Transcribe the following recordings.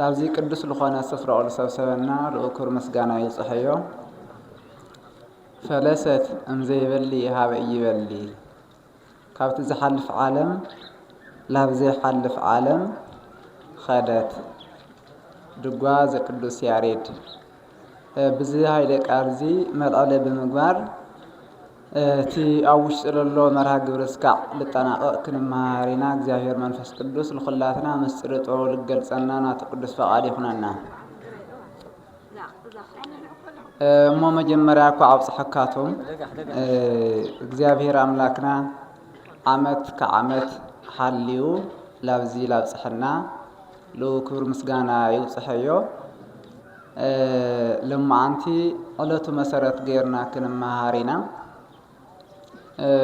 ናብዚ ቅዱስ ልኾነ ስፍራኡ ልሰብሰበና ልኡክር ምስጋና ይብጽሐዮ። ፈለሰት እምዘይበሊ ሃበ እይበሊ ካብቲ ዝሓልፍ ዓለም ላብ ዘይሓልፍ ዓለም ኸደት ድጓ ዘቅዱስ ያሬድ ብዚ ሃይለ ቃል እዚ መልዕለ ብምግባር እቲ ኣብ ውሽጢ ዘሎ መርሃ ግብሪ እስካዕ ልጠናቐቕ ክንመሃር ኢና። እግዚኣብሔር መንፈስ ቅዱስ ልኹላትና ምስጢረ ጥበቡ ልገልጸና ናቱ ቅዱስ ፈቓድ ይኹነና። እሞ መጀመርያ እኳ ኣብጽሐካቱም እግዚኣብሔር ኣምላክና ዓመት ከዓመት ሓልዩ ላብዚ ላብጽሐና ልኡ ክብር ምስጋና ይውጽሐዮ። ሎማዓንቲ ዕለቱ መሰረት ገይርና ክንመሃር ኢና።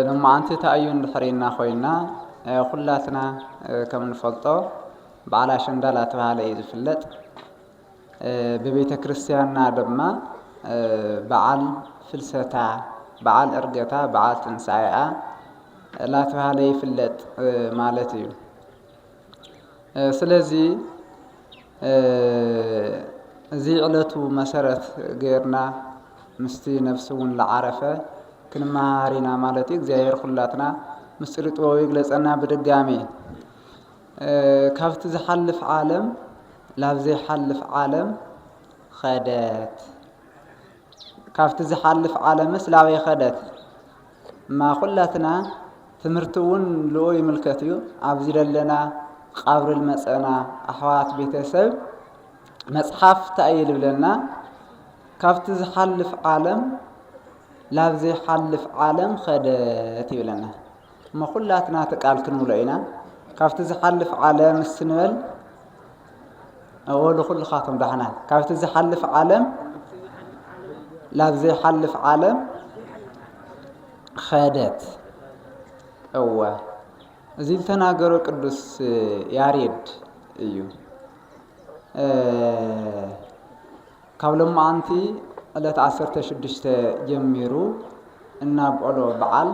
ሎማዓንቲ ታኣዩ እንድሕር ኢልና ኮይና ኩላትና ከም ንፈልጦ በዓል ኣሸንዳ ላተባህለ እዩ ዝፍለጥ። ብቤተ ክርስቲያንና ድማ በዓል ፍልሰታ፣ በዓል እርገታ፣ በዓል ትንሳኤኣ ላተባህለ ይፍለጥ ማለት እዩ። ስለዚ እዚ ዕለቱ መሰረት ገይርና ምስቲ ነፍሲ እውን ዝዓረፈ ክንመሃሃር ኢና ማለት እዩ። እግዚኣብሔር ኩላትና ምስጢር ጥበቡ ይግለጸና ብድጋሜ ካብቲ ዝሓልፍ ዓለም ላብ ዘይሓልፍ ዓለም ኸደት ካብቲ ዝሓልፍ ዓለምስ ላበይ ኸደት እማ ኩላትና ትምህርቲ እውን ልኡ ይምልከት እዩ ኣብዚ ዘለና ቃብሪ ልመፀና ኣሕዋት ቤተሰብ መፅሓፍ እንታይ እዩ ልብለና ካብቲ ዝሓልፍ ዓለም ላብ ዘይሓልፍ ዓለም ኸደት ይብለና እሞ ኩላትና ትቃል ክንብሎ ኢና ካብቲ ዝሓልፍ ዓለም እስንበል ኣዎ ንኹልኻቶም ዳሕና ካብቲ ዝሓልፍ ዓለም ላብ ዘይሓልፍ ዓለም ኸደት እወ እዚ ዝተናገሮ ቅዱስ ያሬድ እዩ ካብ ሎማዓንቲ ዕለት 16 ጀሚሩ እናብዕሎ በዓል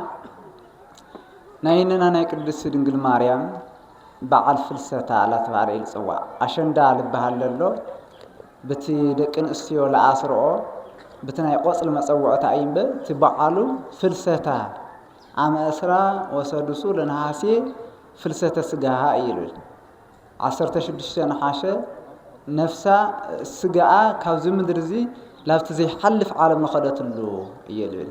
ናይንና ናይ ቅድስቲ ድንግል ማርያም በዓል ፍልሰታ ላተባህለ እዩ ልጽዋዕ ኣሸንዳ ልበሃል ለሎ ብቲ ደቂ ንእስትዮ ለኣስርኦ ብቲ ናይ ቆጽሊ መጸውዕታ እዩ እምበ እቲ በዓሉ ፍልሰታ ኣመ እስራ ወሰዱሱ ለነሃሴ ፍልሰተ ስጋሃ እዩ ልብል ዓሰርተ ሽዱሽተ ነሓሸ ነፍሳ ስጋኣ ካብዚ ምድሪ እዚ ላብቲ ዘይሓልፍ ዓለም ንኸደትሉ እዩ ልብል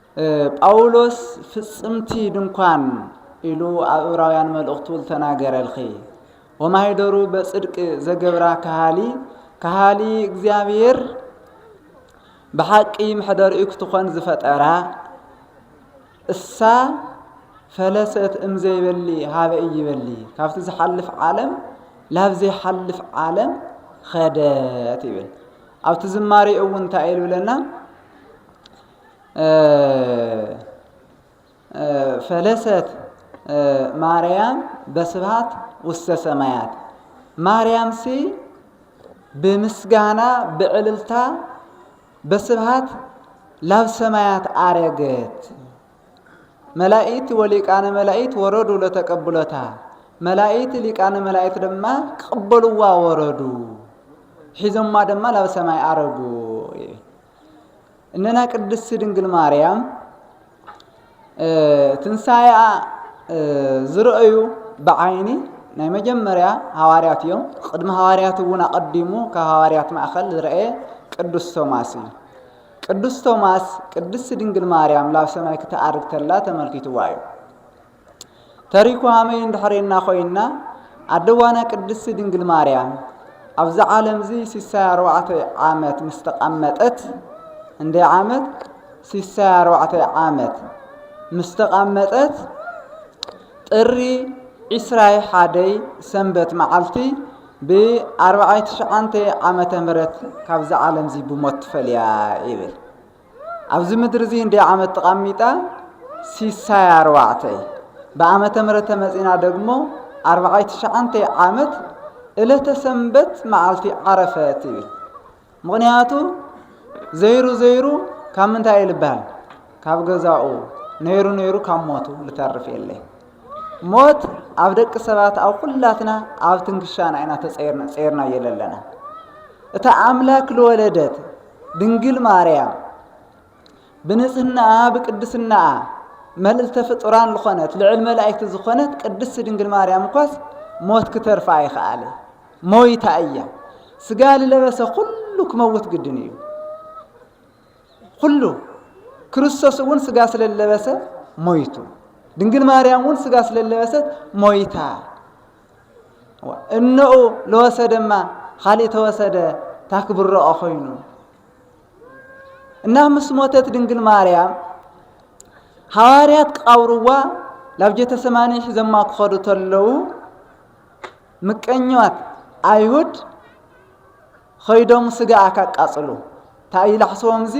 ጳውሎስ ፍጽምቲ ድንኳን ኢሉ ኣብ እብራውያን መልእኽቱ ልተናገረልኺ ወማሂደሩ በጽድቅ ዘገብራ ከሃሊ ከሃሊ እግዚኣብሔር ብሓቂ መሕደሪኡ ክትኾን ዝፈጠራ እሳ ፈለሰት እምዘይበሊ ሃበ እይበሊ ካብቲ ዝሓልፍ ዓለም ላብ ዘይሓልፍ ዓለም ኸደት ይብል ኣብቲ ዝማሬ እውን እንታይ ኢሉ ብለና ፈለሰት ማርያም በስብሃት ውስተ ሰማያት ማርያምሲ ብምስጋና ብዕልልታ በስብሃት ላብ ሰማያት አረገት። መላእክት ወሊቃነ መላእክት ወረዱ ለተቀብሎታ መላእክት ሊቃነ መላእክት ድማ ክቅበልዋ ወረዱ ሒዞማ ድማ ላብ ሰማይ አረጉ። እነና ቅድስቲ ድንግል ማርያም ትንሣኤኣ ዝረአዩ ብዓይኒ ናይ መጀመርያ ሃዋርያት እዮም። ቅድሚ ሃዋርያት እውን ኣቐዲሙ ካብ ሃዋርያት ማእኸል ዝረአየ ቅዱስ ቶማስ እዩ። ቅዱስ ቶማስ ቅድስቲ ድንግል ማርያም ላብ ሰማይ ክትኣርግ ተላ ተመልኪትዋ እዩ። ተሪኩ ሃመይ እንድሕሬና ኮይና ኣደዋና ቅድስቲ ድንግል ማርያም ኣብዚ ዓለምዚ ሲሳይ ኣርባዕተ ዓመት ምስ ተቐመጠት እንደ ዓመት ሲሳይ ኣርባዕተ ዓመት ምስ ተቐመጠት ጥሪ ዒስራይ ሓደይ ሰንበት መዓልቲ ብኣርባዓይ ትሽዓንተ ዓመተ ምህረት ካብዚ ዓለምዚ ብሞት ትፈልያ ይብል ኣብዚ ምድሪ እዚ እንደ ዓመት ተቃሚጣ ሲሳይ ኣርባዕተ ብዓመተ ምሕረት ተመጺና ደግሞ ኣርባዓይ ትሽዓንተ ዓመት እለተ ሰንበት መዓልቲ ዓረፈት ይብል ምክንያቱ ዘይሩ ዘይሩ ካብ ምንታይ ልበሃል ካብ ገዛኡ ነይሩ ነይሩ ካብ ሞቱ ልተርፍ የለይ ሞት ኣብ ደቂ ሰባት ኣብ ኩላትና ኣብ ትንክሻና ኢና ተጸይርና ጸይርና የለለና እታ ኣምላክ ልወለደት ድንግል ማርያም ብንጽህናኣ ብቅድስናኣ መልእልተ ፍጡራን ዝኾነት ልዕል መላእክቲ ዝኾነት ቅድስቲ ድንግል ማርያም እኳስ ሞት ክተርፋ ኣይኸኣለ ሞይታ እያ ስጋ ልለበሰ ኩሉ ክመውት ግድን እዩ ዅሉ፣ ክርስቶስ እውን ሥጋ ስለለበሰ ሞይቱ፣ ድንግል ማርያም እውን ሥጋ ስለለበሰት ሞይታ እነኡ ለወሰደማ ኻሊእ ተወሰደ ታክብረኦ ኾይኑ እና ምስ ሞተት ድንግል ማርያም ሃዋርያት ክቃብርዋ ላብ ጀተሰማኒ ሒዘማ ክኸዱ ተለዉ ምቀኛት ኣይሁድ ኸይዶም ስጋኣ ካቃጽሉ ታይ ይላሕስዎም እዚ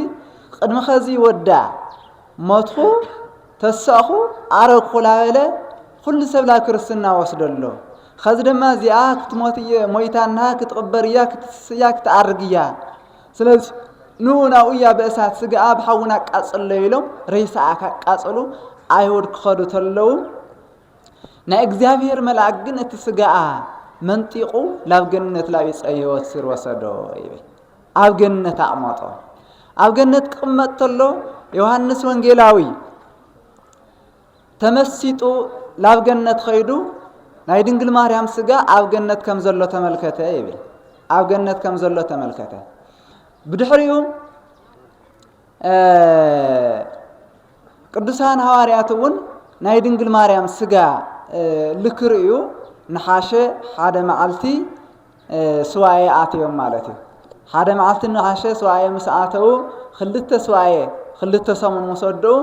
ቕድሚ ኸዚ ወዳ ሞትኹ ተሳእኹ ኣረግኹ ላበለ ኹሉ ሰብ ላብ ክርስትና ወስደሎ ኸዚ ደማ እዚኣ ክትሞት እየ ሞይታ እንሃ ክትቕበር እያ ክትትስ እያ ክትኣርግ እያ ስለዚ ን ናብኡ እያ ብእሳት ስጋኣ ብሓውን ኣቃጽሎ ኢሎም ሬሳኣ ካቃጽሉ ኣይሁድ ክኸዱ ተለዉ ናይ እግዚኣብሔር መልኣክ ግን እቲ ስጋኣ መንጢቑ ናብ ገነት ናብ ዕፀ ሕይወት ሲር ወሰዶ ይብል ኣብ ገነት ኣቕመጦ ኣብ ገነት ክቕመጥ ተሎ ዮሐንስ ወንጌላዊ ተመሲጡ ናብ ገነት ኸይዱ ናይ ድንግል ማርያም ስጋ ኣብ ገነት ከም ዘሎ ተመልከተ ይብል ኣብ ገነት ከም ዘሎ ተመልከተ ብድሕሪኡ ቅዱሳን ሃዋርያት እውን ናይ ድንግል ማርያም ስጋ ልክርእዩ ንሓሸ ሓደ መዓልቲ ስዋኤ ኣትዮም ማለት እዩ ሓደ መዓልቲ ንሓሸ ስዋኤ ምስ ኣተዉ ክልተ ስዋኤ ክልተ ሰሙን ምስ ወድኡ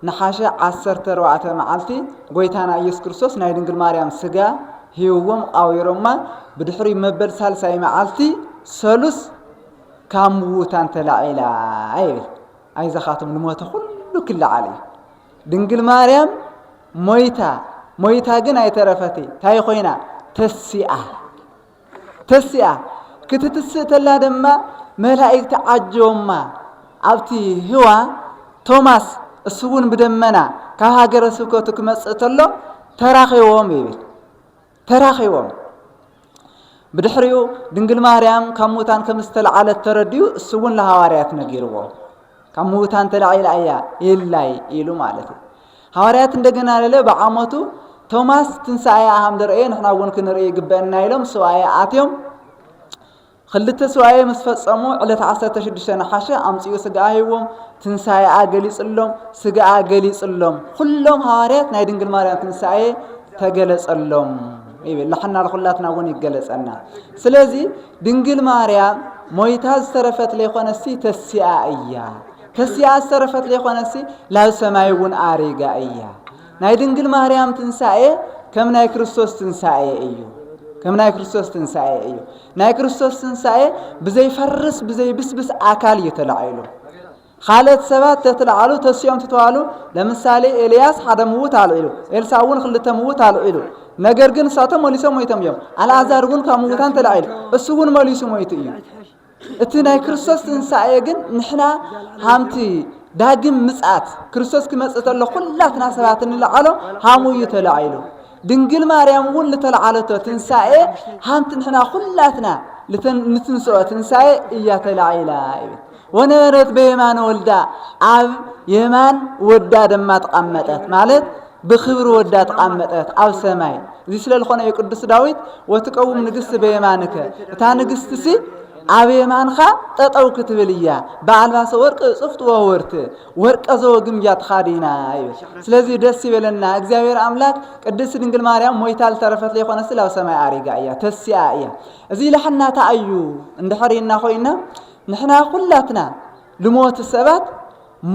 ንሓሸ ዓሰርተ ኣርባዕተ መዓልቲ ጎይታና ኢየሱስ ክርስቶስ ናይ ድንግል ማርያም ስጋ ሂውዎም ቃዊሮማ ብድሕሪ መበል ሳልሳይ መዓልቲ ሰሉስ ካብ ምዉታን ተላዒላ ይብል ኣይዛኻትም ልሞተ ኩሉ ክለዓል እዩ ድንግል ማርያም ሞይታ ሞይታ ግን ኣይተረፈት ታይ ኮይና ተሲኣ ተሲኣ ክትትስእ ተላ ድማ መላእክቲ ዓጆማ ኣብቲ ህዋ ቶማስ እሱ እውን ብደመና ካብ ሃገረ ስብከቱ ክመጽእ ተሎ ተራኺቦም ይብል ተራኺቦም። ብድሕሪኡ ድንግል ማርያም ካብ ሙታን ከም ዝተለዓለት ተረድኡ፣ እሱ እውን ለሃዋርያት ነጊርዎ። ካብ ምውታን ተላዒላ እያ የላይ ኢሉ ማለት እዩ። ሃዋርያት እንደገና ለለ ብዓመቱ ቶማስ ትንሣኤ ኣሃም ደርእየ ንሕና እውን ክንርኢ ይግበአና ኢሎም ሱባኤ ኣትዮም ኽልተ ሱባኤ ምስ ፈጸሙ ዕለት ዓሰርተ ሽዱሽተ ነሓሸ ኣምጺኡ ስጋኣ ሂቦም ትንሳኤኣ ገሊጽሎም ስጋኣ ገሊጽሎም ኹሎም ሃዋርያት ናይ ድንግል ማርያም ትንሳኤ ተገለጸሎም ይብል ንሕና ንኹላትና እውን ይገለጸና ስለዚ ድንግል ማርያም ሞይታ ዝተረፈት ለይኮነሲ ተሲኣ እያ ተሲኣ ዝተረፈት ለይኮነሲ ላብ ሰማይ እውን ኣሪጋ እያ ናይ ድንግል ማርያም ትንሳኤ ከም ናይ ክርስቶስ ትንሳኤ እዩ። ከም ናይ ክርስቶስ ትንሳኤ እዩ። ናይ ክርስቶስ ትንሳኤ ብዘይፈርስ ብዘይብስብስ ኣካል እዩ ተላዒሉ። ካልኦት ሰባት ተትለዓሉ ተሲኦም ትተዋሉ ለምሳሌ ኤልያስ ሓደ ምውት ኣልዒሉ ኤልሳ እውን ክልተ ምውት ኣልዒሉ ነገር ግን እሳቶም መሊሶም ሞይቶም እዮም ኣልኣዛር እውን ካብ ምውታን ተላዒሉ እሱ እውን መሊሱ ሞይቱ እዩ እቲ ናይ ክርስቶስ ትንሳኤ ግን ንሕና ሃምቲ ዳግም ምጽኣት ክርስቶስ ክመጽእ ተሎ ኩላትና ሰባት እንልዓሎ ሃሙ እዩ ተላዒሉ ድንግል ማርያም እውን ልተለዓለቶ ትንሳኤ ሃምቲ ንሕና ኩላትና ንትንስኦ ትንሳኤ እያ ተላዒላ እዩ ወነበረት በየማን ወልዳ ኣብ የማን ወዳ ደማ ተቐመጠት ማለት ብኽብሪ ወዳ ተቓመጠት ኣብ ሰማይ እዚ ስለ ልኾነ እዩ ቅዱስ ዳዊት ወትቀውም ንግስቲ በየማንከ እታ ንግስትሲ ኣብ የማንኻ ጠጠው ክትብል እያ ብኣልባሰ ወርቅ እጽፍት ወወርት ወርቀ ዘወግምጃ ተኻዲና ይብል ስለዚህ ደስ ይበለና እግዚኣብሔር ኣምላክ ቅድስት ድንግል ማርያም ሞይታ ልተረፈት ለይኾነ ስለ ኣብ ሰማይ ኣሪጋ እያ ተሲኣ እያ እዚ ልሕናታ እዩ እንድሕሪና ኮይና ንሕና ኩላትና ልሞት ሰባት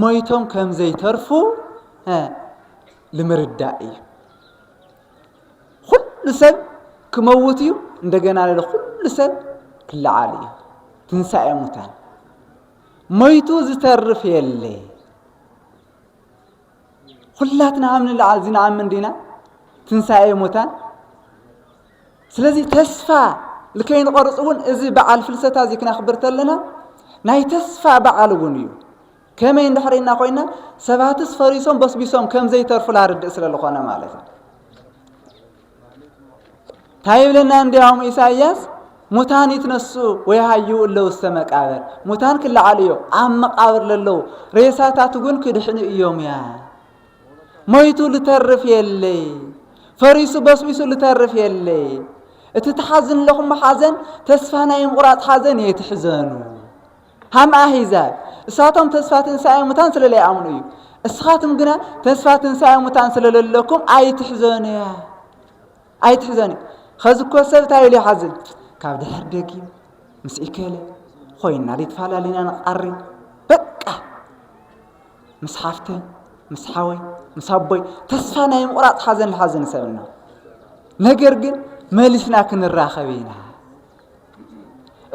ሞይቶም ከም ዘይተርፉ ሀ ልምርዳእ እዩ ኩሉ ሰብ ክመውት እዩ እንደገና ለ ኩሉ ሰብ ክለዓል እዩ ትንሳኤ ሙታን ሞይቱ ዝተርፍ የለ ኩላትና ኣብ ንለዓል እዚ ንኣምን ዲና ትንሳኤ ሙታን ስለዚ ተስፋ ልከይንቐርፅ እውን እዚ በዓል ፍልሰታ እዚ ክነኽብር ተለና ናይ ተስፋ በዓል እውን እዩ ከመይ እንድሕሪ ኢልና ኮይና ሰባትስ ፈሪሶም በስቢሶም ከም ዘይተርፉ ላርድእ ስለ ዝኾነ ማለት እዩ እንታይ ይብለና እንዲያውም ኢሳይያስ ሙታን ይትነሱ ወይሃዩ እለው እስተ መቃብር ሙታን ክለዓሉ እዮም ኣብ መቃብር ለለው ሬሳታት እውን ክድሕኑ እዮም እያ ሞይቱ ልተርፍ የለይ ፈሪሱ በስቢሱ ልተርፍ የለይ እቲ ትሓዝን ኣለኹም ሓዘን ተስፋ ናይ ምቑራፅ ሓዘን የትሕዘኑ ሃም ኣህዛብ እሳቶም ተስፋ ትንሳኤ ሙታን ስለ ለይኣምኑ እዩ እስኻትም ግና ተስፋ ትንሳኤ ሙታን ስለ ለለኩም ኣይትሕዘኑ ኣይትሕዘኑ ኸዚ እኮ ሰብ እንታይ ኢሉ ይሓዝን ካብ ድሕር ደጊም ምስ ኢከለ ኮይና ዘይተፈላለና ንቃሪ በቃ ምስ ሓፍተ ምስ ሓወይ ምስ ኣቦይ ተስፋ ናይ ምቑራፅ ሓዘን ልሓዘን ሰብና ነገር ግን መሊስና ክንራኸብ ኢና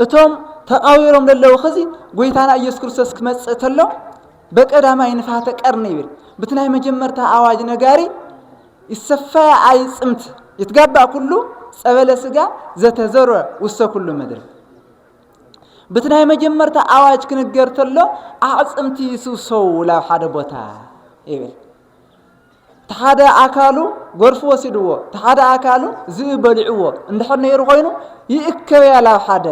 እቶም ተቃዊሮም ለለዉ ኸዚ ጎይታና ኢየሱስ ክርስቶስ ክመጽእ ተሎ በቀዳማይ ንፋተ ቀርኒ ይብል ብቲ ናይ መጀመርታ ኣዋጅ ነጋሪ ይሰፋያ ኣይ ጽምት ይትጋባእ ኩሉ ጸበለ ስጋ ዘተዘሮ ውሰ ኩሉ ምድር ብቲ ናይ መጀመርታ ኣዋጅ ክንገር ተሎ ኣዕጽምቲ ይስውሰው ላብ ሓደ ቦታ ይብል እቲ ሓደ ኣካሉ ጎርፊ ወሲድዎ፣ እቲ ሓደ ኣካሉ ዝብኢ በሊዕዎ እንድሕር ነይሩ ኮይኑ ይእከብያ ላብ ሓደ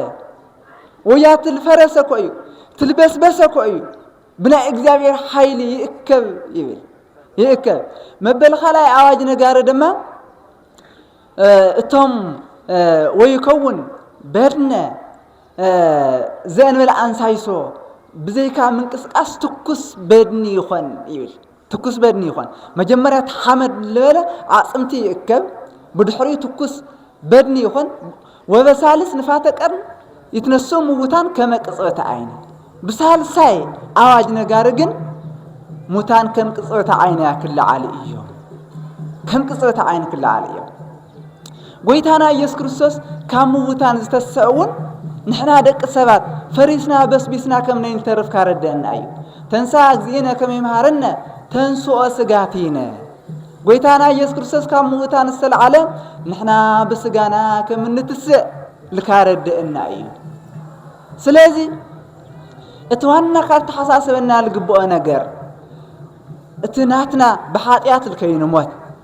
ወያ ትል ፈረሰ እኮ እዩ ትል በስበሰ እኮ እዩ ብናይ እግዚኣብሔር ሓይሊ ይእከብ ይብል ይእከብ መበል ካልኣይ ኣዋጅ ነጋሪ ድማ እቶም ወይከውን በድነ ዘእንበለ ኣንሳይሶ ብዘይካ ምንቅስቃስ ትኩስ በድኒ ይኾን ይብል ትኩስ በድኒ ይኾን። መጀመርያ እቲ ሓመድ ልበለ ኣዕጽምቲ ይእከብ፣ ብድሕሪኡ ትኩስ በድኒ ይኾን። ወበሳልስ ንፋተ ቀርን ይትነስኡ ምውታን ከመ ቅጽበተ ዓይን። ብሳልሳይ ኣዋጅ ነጋሪ ግን ሙታን ከም ቅጽበተ ዓይን እያ ክለዓሉ እዮም። ከም ቅጽበተ ዓይን ክለዓሉ እዮም። ጎይታና ኢየሱስ ክርስቶስ ካብ ምውታን ዝተስሰ እውን ንሕና ደቂ ሰባት ፈሪስና በስቢስና ከም ነይንተርፍ ካረደአና እዩ ተንሳ እግዚእነ ከም ይምሃረነ ተንስኦ ስጋቲነ ጎይታና ኢየሱስ ክርስቶስ ካብ ምውታን ዝተለዓለ ንሕና ብስጋና ከም እንትስእ ልካረደአና እዩ ስለዚ እቲ ዋና ካብ ተሓሳሰበና ልግብኦ ነገር እቲ ናትና ብሓጢኣት ልከይንሞት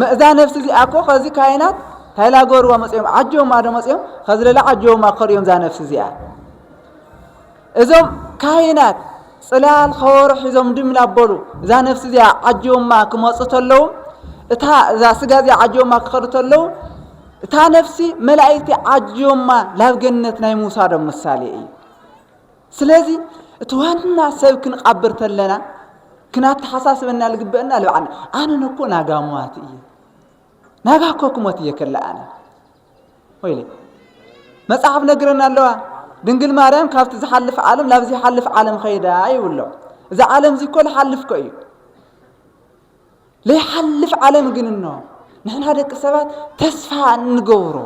መእዛ ነብሲ እዚኣ እኮ ከዚ ካህናት ታይ ላገርዋ መፅኦም ዓጀውማ ዶ መፅኦም ከዚ ለላ ዓጀውማ ክኸድዮም እዛ ነብሲ እዚኣ እዞም ካህናት ፅላል ከወሮ ሒዞም ድም ላበሉ እዛ ነብሲ እዚኣ ዓጀውማ ክመፁ ተለዉ እታ እዛ ስጋ እዚኣ ዓጀውማ ክኸዱ ተለዉ እታ ነፍሲ መላእክቲ ዓጆማ ላብ ገነት ናይ ምውሳዶም ምሳሌ እዩ ስለዚ እቲ ዋና ሰብ ክንቓብር ተለና ክናተሓሳስበና ልግበእና ልብዓና ኣነ ነኮ ናጋ ሟት እየ ናጋ እኮ ክሞት እየ ከላ ኣነ ወይለ መጽሓፍ ነግረና ኣለዋ ድንግል ማርያም ካብቲ ዝሓልፍ ዓለም ናብ ዘይሓልፍ ዓለም ኸይዳ ይብሎ እዚ ዓለም እዚ እኮ ዝሓልፍ ኮ እዩ ዘይሓልፍ ዓለም ግን እኖ ንሕና ደቂ ሰባት ተስፋ እንገብሮ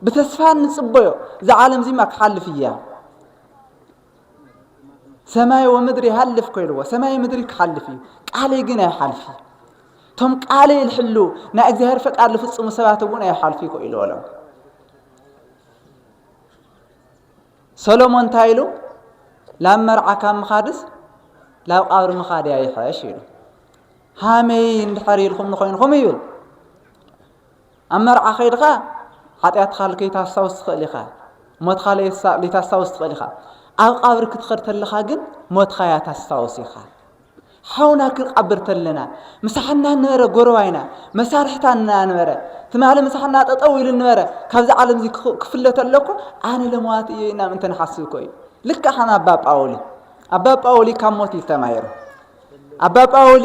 ብተስፋ እንጽበዮ እዚ ዓለም እዚማ ክሓልፍ እያ ሰማይ ወምድሪ ይሃልፍ ኮይልዎ ሰማይ ምድሪ ክሓልፍ እዩ ቃለይ ግን ኣይሓልፍ እዩ እቶም ቃለይ ልሕሉ ናይ እግዚኣብሔር ፈቃድ ልፍፅሙ ሰባት እውን ኣይሓልፍ እዩ ኮይልዎ ሎም ሰሎሞን እንታይ ኢሉ ላብ መርዓ ካብ ምኻድስ ላብ ቃብሪ ምኻድ እያ ይሐሽ ኢሉ ሃመይ እንድሕር ኢልኩም ንኮይንኩም ይብል ኣብ መርዓ ከይድኻ ሓጢኣትኻ ልከይታስታውስ ትኽእል ኢኻ፣ ሞትኻ ለይታስታውስ ትኽእል ኢኻ፣ ኣብ ቃብር ክትኸድ ተለኻ ግን ሞትኻ እያ ታስታውስ ኢኻ። ሓውና ክንቃብር ተለና ምሳሕና ነበረ ጎረባይና መሳርሕታ እናነበረ ትማሊ ምሳሕና ጠጠው ኢሉ ነበረ ካብዚ ዓለም እዚ ክፍለ ተለኩ ኣነ ለመዋት እየ ኢና ምእንተ ንሓስብ እኮ እዩ ልክዕ ከም ኣባ ጳውሊ ኣባ ጳውሊ ካብ ሞት እዩ ተማሂሩ ኣባ ጳውሊ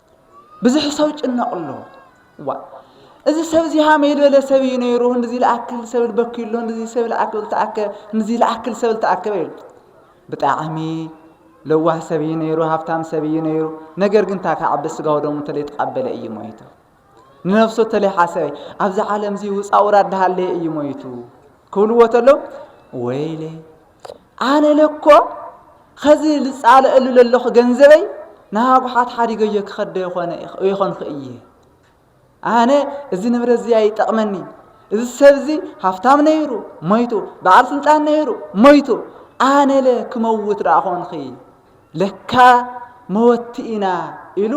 ብዙሕ ሰው ጭነቅ ኣሎ ዋ እዚ ሰብ እዚ ሃመይ ዝበለ ሰብ እዩ ነይሩ እንዚ ልኣክል ሰብ ልበክዩ ኣሎ እንዚ ሰብ ልኣክል ተኣከ እንዚ ልኣክል ሰብ ልተኣከበ እዩ ብጣዕሚ ለዋህ ሰብ እዩ ነይሩ ሃብታም ሰብ እዩ ነይሩ ነገር ግን እንታይ ከዓቢ ስጋው ደሙ ተለይ ተቃበለ እዩ ሞይቱ ንነፍሱ ተለይ ሓሰበ ኣብዚ ዓለም እዚ ውፃ ውራድ ሃለየ እዩ ሞይቱ ክብልዎ ተለው ወይለይ ኣነ ለኮ ኸዚ ልጻለእሉ ለለኹ ገንዘበይ ንሃጉሓት ሓዲገዮ ክኸዶ ይኾነ ይኾንኹ እየ ኣነ እዚ ንብረት እዚ ኣይጠቕመኒ እዚ ሰብ እዚ ሃፍታም ነይሩ ሞይቱ በዓል ስልጣን ነይሩ ሞይቱ ኣነለ ክመውት ደኣ ኾንኺ ለካ መወቲ ኢና ኢሉ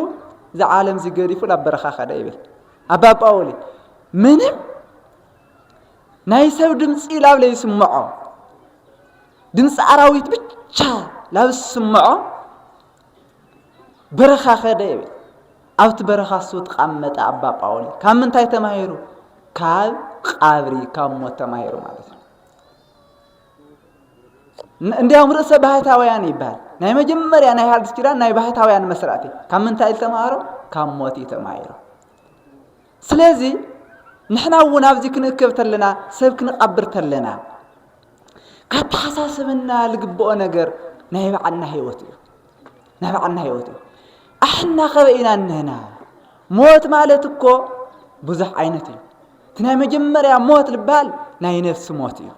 እዚ ዓለም እዚ ገዲፉ ናብ በረኻ ከደ ይብል ኣባ ጳውሊ ምንም ናይ ሰብ ድምፂ ላብ ለይስምዖ ድምፂ ኣራዊት ብቻ ላብ ዝስምዖ በረኻ ከደ ይብል ኣብቲ በረኻ እሱ ተቃመጠ ኣባ ጳውሊ ካብ ምንታይ ተማሂሩ ካብ ቃብሪ ካብ ሞት ተማሂሩ ማለት ነው እንዲያውም ርእሰ ባህታውያን ይባሃል ናይ መጀመርያ ናይ ሃዲስ ኪዳን ናይ ባህታውያን መስራቲ ካብ ምንታይ ተማሃሮ ካብ ሞት እዩ ተማሂሩ ስለዚ ንሕና እውን ኣብዚ ክንእከብ ተለና ሰብ ክንቐብር ተለና ካተሓሳስበና ዝግብኦ ነገር ናይ ባዕልና ህይወት እዩ ናይ ባዕልና ህይወት እዩ ኣሕና ከበ ኢና እንህና ሞት ማለት እኮ ብዙሕ ዓይነት እዩ እቲ ናይ መጀመርያ ሞት ዝበሃል ናይ ነፍሲ ሞት እዩ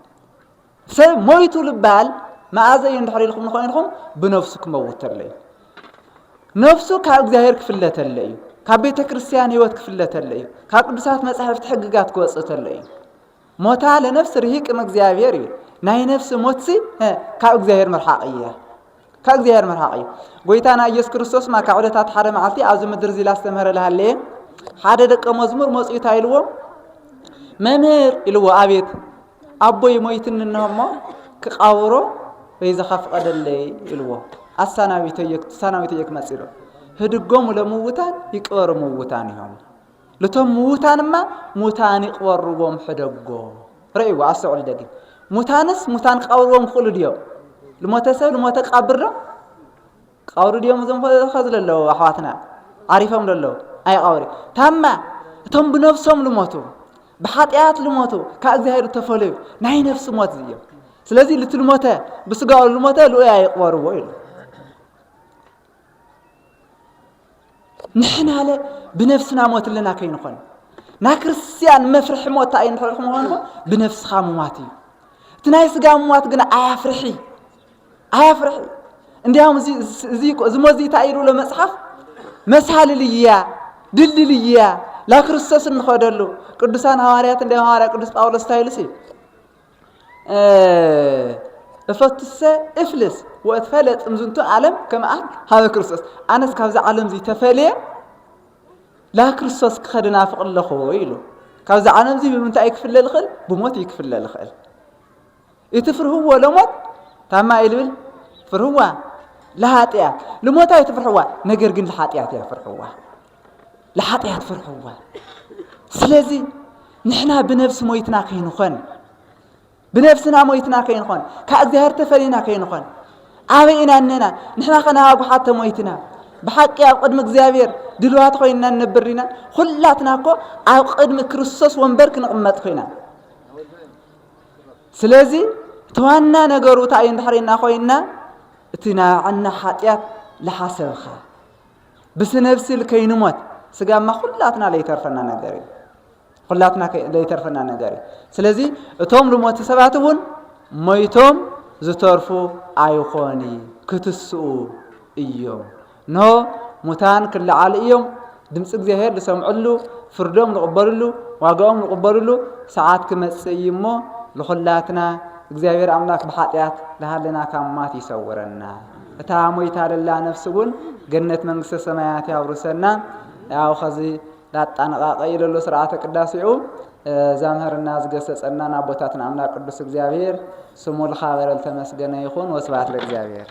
ሰብ ሞይቱ ልባል መኣዘ እዩ እንድሕር ኢልኩም ንኮይንኩም ብነፍሱ ክመውት ተሎ እዩ ነፍሱ ካብ እግዚኣብሔር ክፍለ ተሎ እዩ ካብ ቤተ ክርስቲያን ህይወት ክፍለ ተሎ እዩ ካብ ቅዱሳት መጻሕፍቲ ሕግጋት ክወፅእ ተሎ እዩ ሞታ ለነፍስ ርሂቅም እግዚኣብሔር እዩ ናይ ነፍሲ ሞትሲ ካብ እግዚኣብሔር ምርሓቕ እያ ካብ እግዚኣብሔር ምርሓቕ እዩ ጎይታና ኢየሱስ ክርስቶስ ማ ካብ ዕለታት ሓደ መዓልቲ ኣብዚ ምድር እዚ ላስተምህረ ልሃለየ ሓደ ደቀ መዝሙር መፅኡ እንታይ ኢልዎ መምህር ኢልዎ ኣቤት ኣቦይ ሞይትኒ እንሆ እሞ ክቃብሮ በይዛኻ ፍቐደለይ ኢልዎ ኣሳናቢተዮ ክመፅ ኢሎ ህድጎሙ ለምውታን ይቅበሩ ምውታን እዮም ልቶም ምዉታን እማ ሙታን ይቅበርዎም ሕደጎ ረእይዎ ኣስተውዕሉ ደጊ ሙታንስ ሙታን ክቀብርዎም ክኽእሉ ድዮም ልሞተ ሰብ ልሞተ ክቀብር ዶ ክቀብሩ ድዮም እዞም ከዚ ለለዉ ኣሕዋትና ዓሪፎም ለለዉ ኣይቀብሪ ታማ እቶም ብነፍሶም ልሞቱ ብሓጢኣት ልሞቱ ካብ እግዚኣብሔር ተፈለዩ ናይ ነፍሲ ሞት እዮም ስለዚ ልቲ ልሞተ ብስጋኡ ልሞተ ልኡያ ይቅበርዎ ኢሉ ንሕናለ ብነፍስና ሞት ኣለና ከይንኾን ናይ ክርስትያን መፍርሒ ሞት እንታይ እንድሕር ምዃንኮ ብነፍስኻ ምሟት እዩ እቲ ናይ ስጋ ምሟት ግን ኣያፍርሒ ኣያፍርሒ እንዲያውም እዚ ሞት እዚ እንታይ ኢሉ መጽሓፍ መሳልል እያ ድልድል እያ ላክርስቶስ እንኸደሉ ቅዱሳን ሃዋርያት እንዲያውም ሃዋርያ ቅዱስ ጳውሎስ እንታይ ኢሉሲ እፈትሰ እፍልስ ወእትፈለ ጥምዝንቱ ዓለም ከመኣን ሃበ ክርስቶስ ኣነስ ካብዚ ዓለም እዚ ተፈልየ ላ ክርስቶስ ክኸደ ናፍቕ ኣለኹ ኢሉ ካብዚ ዓለም እዚ ብምንታይ ክፍለ ዝኽእል ብሞት እዩ ክፍለ ዝኽእል እቲ ፍርህዎ ለሞት ታማ ኢልብል ፍርህዋ ለሃጢያ ልሞት ኣይትፍርሕዋ ነገር ግን ልሓጢያት እያ ፍርሕዋ ለሓጥያት ፍርሕዋ ስለዚ ንሕና ብነብሲ ሞይትና ከይንኾን ብነብስና ሞይትና ከይንኾን ካብ እግዚኣብሔር ተፈሊና ከይንኾን ኣበይ ኢና እነና ንሕና ከና ኣጉሓት ተሞይትና ብሓቂ ኣብ ቅድሚ እግዚኣብሔር ድልዋት ኮይንና ንነብር ኢና ኩላትና እኮ ኣብ ቅድሚ ክርስቶስ ወንበር ክንቕመጥ ኮይና ስለዚ እቲ ዋና ነገሩ እንታይ እዩ እንድሕር ኮይና እቲ ናዕና ሓጢኣት ለሓሰብኻ ብስነብሲል ከይንሞት ስጋማ ኩላትና ለይተርፈና ነገር እዩ ኩላትና ለይተርፈና ነገር እዩ ስለዚ እቶም ልሞቲ ሰባት እውን ሞይቶም ዝተርፉ ኣይኾኒ ክትስኡ እዮም ኖ ሙታን ክለዓሉ እዮም ድምፂ እግዚኣብሔር ዝሰምዕሉ ፍርዶም ዝቕበልሉ ዋጋኦም ዝቕበልሉ ሰዓት ክመፅእ እዩ እሞ ንኹላትና እግዚኣብሔር ኣምላክ ብሓጢኣት ዝሃለና ካብ ማት ይሰውረና እታ ሞይታ ደላ ነፍሲ እውን ገነት መንግስተ ሰማያት ያውርሰና ያው ከዚ ላጣነቃቀ ኢለ ኣሎ ስርዓተ ቅዳሴኡ ዛምህርና ዝገሰጸናን ኣቦታትና ኣምላክ ቅዱስ እግዚኣብሔር ስሙ ልካበረ ልተመስገነ ይኹን ወስብሐት ለእግዚኣብሔር